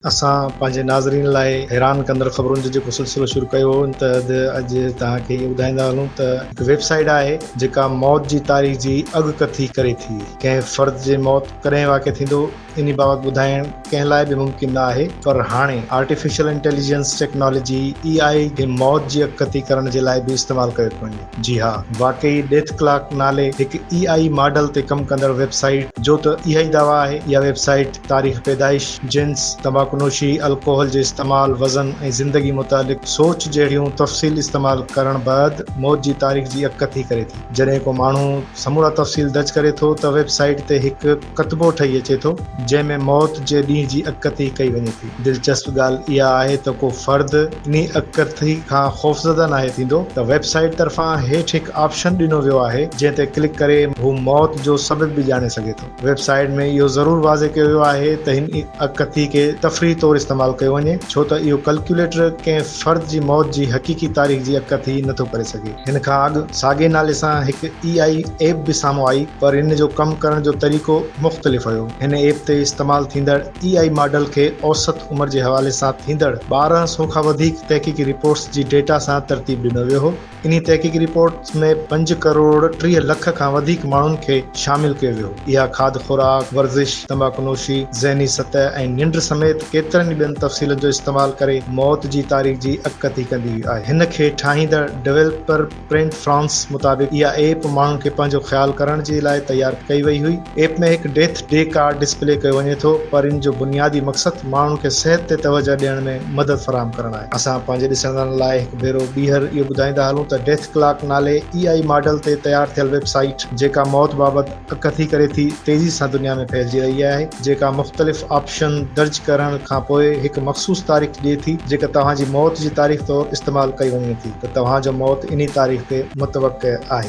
اسان پنهنجي ناظرين لاء حيران ڪندڙ خبرن جو جيڪو سلسلو شروع ڪيو هو ان تحت اڄ توهان کي اهو ٻڌائيندا هلون ته هڪ ويب سائيٽ آهي جيڪا موت جي تاريخ جي اڳڪٿي ڪري ٿي ڪنهن فرد جي موت ڪڏهن واقع ٿيندو انهي بابت ٻڌائڻ ڪنهن لاء به ممڪن نه آهي پر هاڻي artificial intelligence technology A I جي موت جي اڳڪٿي ڪرڻ جي لاء به استعمال ڪيو ٿو وڃي. جي ها، واقعي ڊيٿ ڪلاڪ نالي هڪ اي آئي ماڊل تي ڪم ڪندڙ ويب سائيٽ جو ته اها ئي دعويٰ آهي. اها ويب سائيٽ تاريخ پيدائش، جنس، تمباڪو نوشي، الڪوحل جي استعمال، وزن ۽ زندگي متعلق سوچ جهڙيون تفصيل استعمال ڪرڻ بعد موت جي تاريخ جي اڳڪٿي ڪري ٿي. جڏهن ڪو ماڻهو سمورا تفصيل درج ڪري ٿو ته ويب سائيٽ تي هڪ ڪتبو ٺهي اچي ٿو، جنهن ۾ موت جي ڏينهن جي اڳڪٿي ڪئي وڃي ٿي. دلچسپ ڳالهه اها آهي ته ڪو فرد انهي اڳڪٿي کان خوفزده ناهي ٿيندو ته ويب سائيٽ طرفان هيٺ هڪ آپشن ڏنو ويو آهي جنهن تي ڪلڪ ڪري هو موت جو سبب به ڄاڻي سگهي ٿو. ويب سائيٽ ۾ اهو ضرور واضح ڪيو ويو آهي ته هن اڳڪٿي کي تفريح طور استعمال ڪيو وڃي ڇو ته اهو ڪلڪيوليٽر ڪنهن فرد جي موت جي حقيقي تاريخ جي اڳڪٿي نه ٿو ڪري سگهي. هن کان اڳ ساڳئي نالي سان هڪ اي آئي ايپ به سامهون آئي پر ان جو ڪم ڪرڻ جو طريقو مختلف هيو. هن ايپ تي استعمال ٿيندڙ. اي آء ماڊل کي اوسط عمر جي حوالي سان ٿيندڙ ٻارهن سو کان وڌيڪ تحقيقي رپورٽس جي ڊيٽا سان ترتيب ڏنو ويو هو. انهي تحقيقي رپورٽس ۾ پنج ڪروڙ ٽيهه لک کان وڌيڪ ماڻهن کي شامل ڪيو ويو هو. اها کاڌ خوراڪ، ورزش، تمباڪو نوشي، ذهني سطح ۽ ننڊ سميت ڪيترن ئي ٻين تفصيلن جو استعمال ڪري موت جي تاريخ جي اڳڪٿي ڪندي آهي. هن کي ٺاهيندڙ ڊويلپر، پرنٽ فرانس مطابق اها ايپ ماڻهن کي پنهنجو خيال ڪرڻ جي لاء تيار ڪئي وئي هئي. ايپ ۾ هڪ ڊيٿ ڊي ڪارڊ ڊسپلي ڪيو وڃي ٿو پر ان جو بنيادي مقصد ماڻهن کي صحت تي توجهه ڏيڻ ۾ مدد فراهم ڪرڻ آهي. اسان پنهنجي ڏسندڙن لاء هڪ ڀيرو ٻيهر اهو ٻڌائيندا هلون ته ڊيٿ ڪلاڪ نالي اي آء ماڊل تي تيار ٿيل ويب سائيٽ جيڪا موت بابت ڪٿي ڪري ٿي تيزي سان دنيا ۾ ڦهلجي رهي آهي جيڪا مختلف آپشن درج ڪرڻ کان پوء هڪ مخصوص تاريخ ڏئي ٿي جيڪا توهان جي موت جي تاريخ طور استعمال ڪئي وڃي ٿي ته توهان جو موت انهي تاريخ تي متوقع آهي.